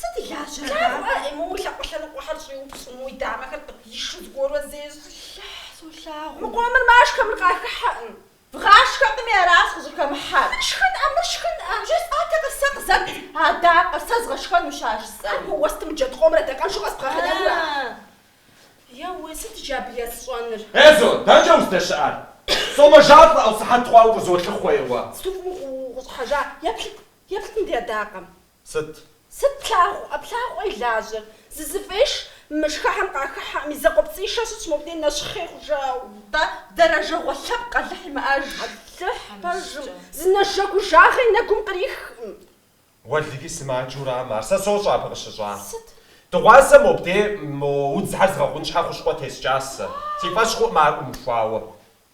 Сыт илажьэрэ, дадэ? Ему уи лъакъуэ лъэныкъуэхэр щӏиупщӏыну уи дамэхэр къыдишу зыгуэрурэ зещӏ. Солъагъу. Мы къомыр машхэ, мыр къахыхьэкъым. Бгъашхэкъыми аращ къыщӏыхэмыхьэр. Мыр шхын-ӏэ, мыр шхын-ӏэ! Жысӏатэкъэ сэ къызэп адакъэр, сэ згъэшхэнущ ар жысӏэри. Абы уэстым джэд къомыр адакъэншэу къэзгъэнэнурэ? Еуэ, сыт иджы абы есщӏэныр? Ей зо, дэнкӏэ уздэщыӏар? Сомэжалӏэ, ӏэу, сыхьэт хъуауэ укъызолъыхъуэ, еуэ? Сыт уи гугъу укъыщӏыхьэжар? Еплъыт, еплъыт мыбы адакъэм. Сыт? Сыт плъагъу, плъагъурэ и лажьэр? Зызэфӏеш, мы шхэхэм къахыхьэӏым, и закъуэпцӏийуэ щытщ мобдей нэщхъей хъужауэ. Дэ, дэрэжэгъуэ лъэпкъ Алыхь имыӏэж. Алыхь пэжым, зы нэжэгужагъэ и нэгум кърихкъым. Уэлэхьи, сымаджэу арам ар, сэ сощӏэ абы къыщыщӏа. Сыт? Дыгъуасэ мобдей мо удзхэр згъэгъун щхьэ хущхъуэ тескӏащ сэ. Си фӏэщ хъуӏым ар ӏумыхуауэ.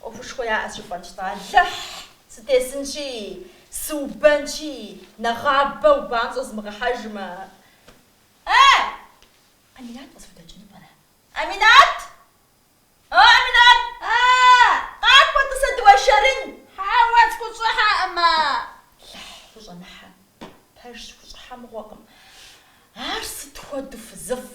ӏуэхушхуэ яӏэ щыфӏэкӏ-тӏэ, Алыхь! Сытесынщи, сыубэнщи, нэгъабэ убамщӏэ зымыгъэхьэжмэ. Э! Аминат къысхудэкӏыну пӏэрэ? Аминат! О, Аминат! Э! Къакӏуэ, тӏыс, дыуэршэрын! Хьэуэ, схущӏыхьэкъым, э! Алыхь, хущӏэмыхьэ. Пэжщ, хущӏыхьэ мыгъуэкъым. Ар сыт хуэдэу фызыфӏ?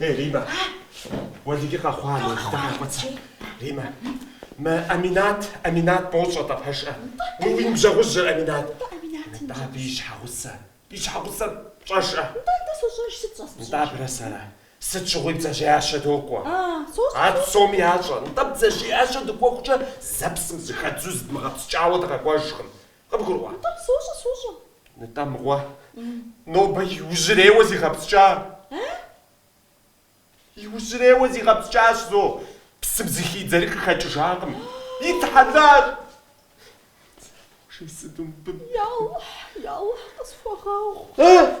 Ей, Риммэ, уэлэхьи, къэхъуа, нобжытэ къекъуэцэ. Риммэ, мы Аминат, Аминат бощӏэ-тӏэ, пщӏэжӏэ. Мы уи ныбжьэгъужьыр Аминат. Нтӏэ абы и щхьэгъусэ, и щхьэгъусэр пщӏэжӏэ. Нтӏэ, нтӏэ, сощӏэж, сыт щӏэс пщӏэжӏэ? Нтӏэ, абырэ сэрэ сыт щыгъуи бдзэжьеящэ докӏуэ. А, сощӏэ. Ар псоми ящӏэ. Нтӏэ, бдзэжьеящэ дыкӏуэхукӏэ зэ псым зыхэддзэу зыдмыгъэпскӏауэ дыкъэкӏуэжкъым. Къыбгурыӏуа? Нтӏэ, сощӏэ, сощӏэ. Нтӏэ, мыгъуэ, нобэ иужьрейуэ зигъэпскӏа? Э? Иужьрейуэ зигъэпскӏащ, зо, псым зыхидзэри къыхэкӏыжакъым. Итхьэлар! Жесӏэдумбы. Ялыхь, ялыхь, къысхуэгъэгъу. Э?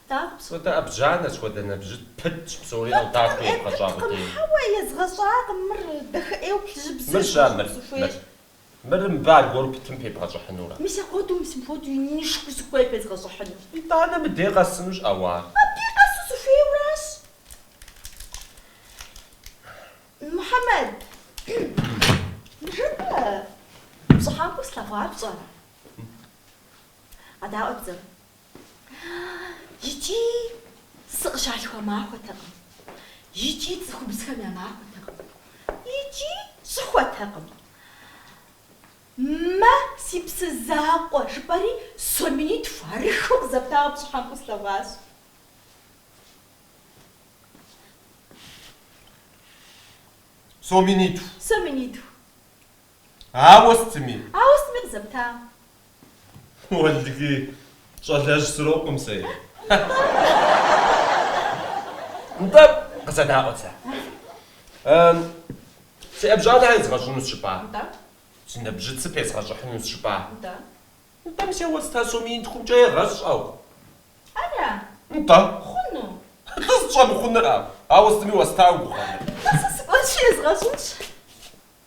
Тӏэкӏу. Сыт хуэдэ ӏэбжьанэ, сыт хуэдэ нэбжьыц пытщ, псори ӏэвдакуи Пыткъым, ебгъэщӏакъым. Пыткъым. Хьэуэ, езгъэщӏакъым, мыр дахэ ӏейуэ плыжьыбзэщ, Мыращ, мыр, мыр. Сызыхуейр. Мыр мыбы аргуэру пытым пебгъэщӏыхьынура? Мис апхуэдэу, мис мыпхуэдэу инышхуэу сыхуей пезгъэщӏыхьыну. Итӏанэ мыдей къэсынущ ӏэу, ар. Мыбдей къэсу сыхуейуэ аращ. Мухьэмэд. Ныжэбэ, пщӏыхьэпӏэу слъэгъуар пщӏэрэ? Къэдаӏуэ бзэр. Икӏи сыкъыщалъхуа махуэтэкъым, икӏи цӏыхубзхэм я махуэтэкъым, икӏи щӏыхуэтэкъым. Мэ, си псы закъуэ, жыпӏэри, сом минитху ахъшэу къызэптауэ пщӏыхьэпӏэу слъэгъуащ. Сом минитху? Сом минитху. Ауэ сытми. Ауэ сытми къызэптам. Уэлги, щӏалэжь срокъум сэ е. Нтӏэ, къызэдаӏуэт сэ. Си ӏэбжьанэр езгъэщӏынущ жыпӏа? Нтӏэ. Си нэбжьыцыр пезгъэщӏыхьынущ жыпӏа? Нтӏэ. Нтӏэ, мис а уэста сом минитхумкӏэ егъэщӏ уэ. Ара? Нтӏэ. Хъуну. Нтӏэ, сыт щӏэмыхъунур? Ауэ сытми уэста уи гугъэ. Нтӏэ, сэ сыкӏуэнщи езгъэщӏынщ.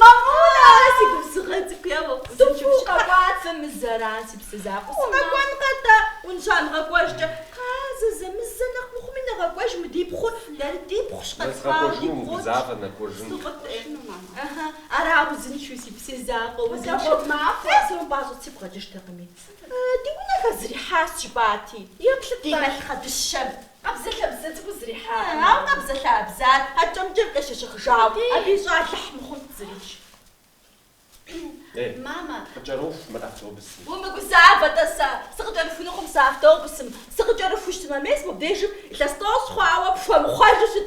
Мамула! А, си губзыгъэ цӏыкӏу, еуэ, фӏызэчыпщ, къэкӏуат зэ мы зэран, си псэ закъуэ, сыкъэкӏуэнкъэ атӏэ, унщӏа нэгъэкӏуэжкӏэ, кхъа, зэзэмызэ, нэхъ мыхъуми нэгъэкӏуэж мы ди пхъур, дэр ди пхъущ, къэтлъхуауэ ди пхъущ, сыкъытӏену, мама. Ара, узыншэу, си псэ закъуэ, узыншэу, фӏыуэ сымыпӏащӏэ сигу къэкӏыжтэкъыми. Ди унэхэр зэрихьащ, жыпӏати. Еплъыт, ди малъхъэ дыщэм. Къабзэлъабзэ цӏыкӏуу зэрихьа. Ауэ къабзэлъабзэр ӏэкӏэмкӏэ къещэщыхыжауэ, абы ищӏэ Алыхь мыхъунт зырищ. Ей, мамэ, укъыкӏэроху мы автобусым. Умыгузавэ-тӏэ, сэ сыкъыкӏэрыхунукъым сэ автобусым. Сыкъыкӏэрыхущ сымэ мес мобдежым илъэс тӏощӏ хъуауэ пхуэмыхъуэжу щыт.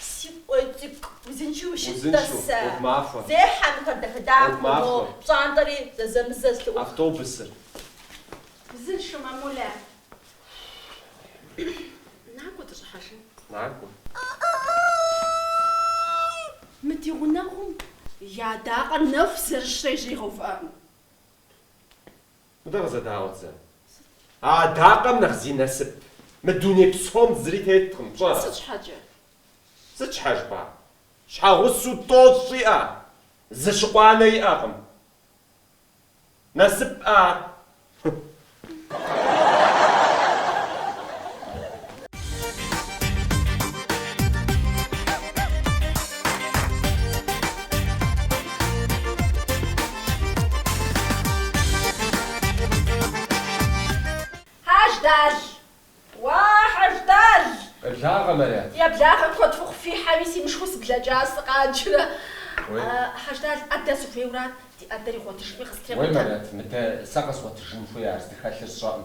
Си къуэ цӏыкӏу, узыншэу ущыт, тӏасэ. Зехьэ мыхэр дахэ-дахэу, мо пщӏантӏэри зэзэмызэ зэлъыӏух. Автобусыр. Узыншэу, мамулэ. Накӏуэ дыщӏыхьэжын. Накӏуэ. Мы ди гъунэгъум и адакъэр нэху зэрыщрэ и жьэр игъэувыӏэкъым. Мыдэ къызэдаӏуэт зэ. А адакъэм нэхъ зи насып мы дуней псом зыри теткъым, пщӏэрэ? Сыт щхьэкӏэ? Сыт щхьэ жыпӏа? Щхьэгъусэу тӏощӏ иӏэ, зы щыкъуанэ иӏэкъым. Насып ар. Хьэждал! Уа, Хьэждал! Къеблагъэ, Марят! Уи благъэ куэд ухъу фихьэми, си мышхур сыблэкӏа сыкъаджэурэ. Хьэждал, ӏэдэ сыхуейуэ арат, ди ӏэдэр игъуэтыжыпӏи къыстрегъуэтэ. Уей, Марят, мыдэ сэ къэзгъуэтыжын хуей, ар здыхэлъыр сщӏэкъым.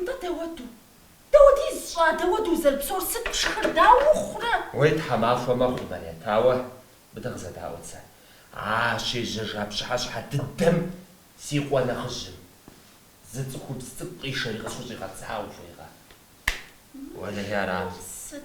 Нтӏэ, дауэду? Дауэдиз щӏа, дауэду узэрыпсэур, сыт пшхэр, дауэ ухъурэ? Уей тхьэмахуэ мэхъу, Марят, ауэ, мыдэ къызэдаӏуэт сэ, а щежьэжа пщыхьэщхьэ дыдэм си къуэ нэхъыжьым, зы цӏыхубз цӏыкӏу къишэри къысхущӏигъэтӏысхьа, ухуейкъэ? Уэлэхьи арат. Ар сыт?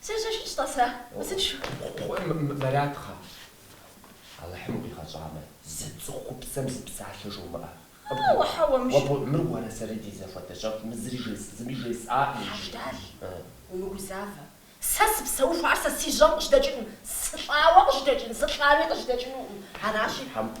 Сэ сыщыщ тӏэ сэ, сыщу. Кхъыӏэ, Мэратхъа? Алыхьым укъигъэщӏамэ, зы цӏыхупсэм зы псалъэ жумыӏэ. Хьэуэ, хьэуэ, мыщ. Уэ мыр уэрэ сэрэ ди зэхуэдэ щэхущ, мы зыри жес, зыми жесӏа иджы. Хьэждал, умыгузавэ. Сэ сыпсэуху, ар сэ си жьэм къыжьэдэкӏынкъым. Сылӏауэ къыжьэдэкӏын, сылӏами къыжьэдэкӏынукъым. Аращи. Хьэмпӏ,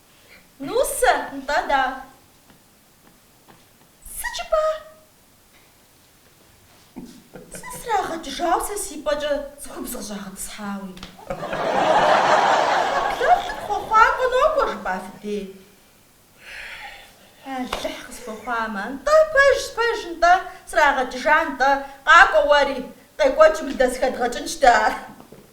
Нусэ, нтӏэ да? Сыт жыпӏа? Зы срагъэкӏыжауэ сэ си пӏэкӏэ цӏыхубз къыщӏагъэтӏысхьауи. Къэбдэлъ хъуэхъуакӏуэ нокӏуэ, жыпӏа фи дей. Алыхь къысхуэхъуамэ, нтӏэ, пэжщ, пэж, нтӏэ, срагъэкӏыжа, нтӏэ, къакӏуэ уэри, къекӏуэкӏым лдэсхэдгъэкӏынщ дэ ар.